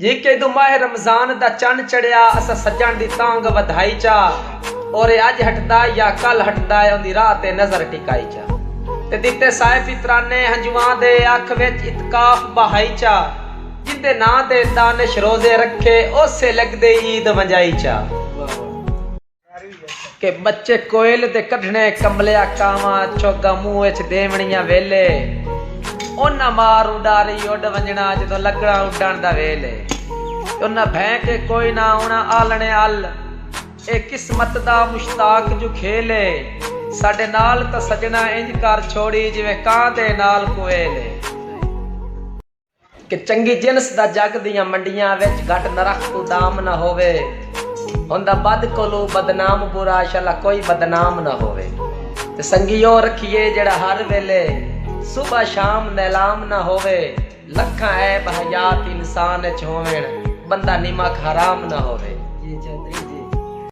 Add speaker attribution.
Speaker 1: جی کیدوں ماہ رمضان دا چن چڑھیا اساں سجݨ دی تانگھ ودھائی چا اورے اڄ ہٹدا یا کل ہٹدا ہے اوندی راہ تے نظر ٹکائی چا تے ݙتے سائے فطرانے ہنجواں دے اکھ وچ اتکاف بہائی چا جیندے ناں تے دانش روزے رکھے اوسے لڳدے عید ونڄائی چا۔ کہ ٻچے کوئل دے کڈھݨے کملیا کانواں چوگاں منہ اچ ݙیوݨیاں ویلے انہاں مار اݙاری اݙ ونڄݨا جدوں لڳݨا اݙݨ دا ویل اے انہاں بھئیں کے کوئی نہ آوݨا آلݨے ال اے قسمت دا مشتاق جو کھیل اے ساݙے نال تاں سڄݨا انج کر چھوڑی جیویں کاں دے نال کوئل اے۔ کہ چنگی جنس دا جگ دیاں منڈیاں وچ گھٹ نرخ توں دام نہ ہووے ہوندا بد کولوں بدنام برا شلا کوئی بدنام نہ ہووے تے سنگی او رکھیے جیڑھا ہر ویلے صبح شام نیلام نہ ہووے لکھاں عیب حیات انسان اچ ہوون بندہ نمک حرام نہ ہووے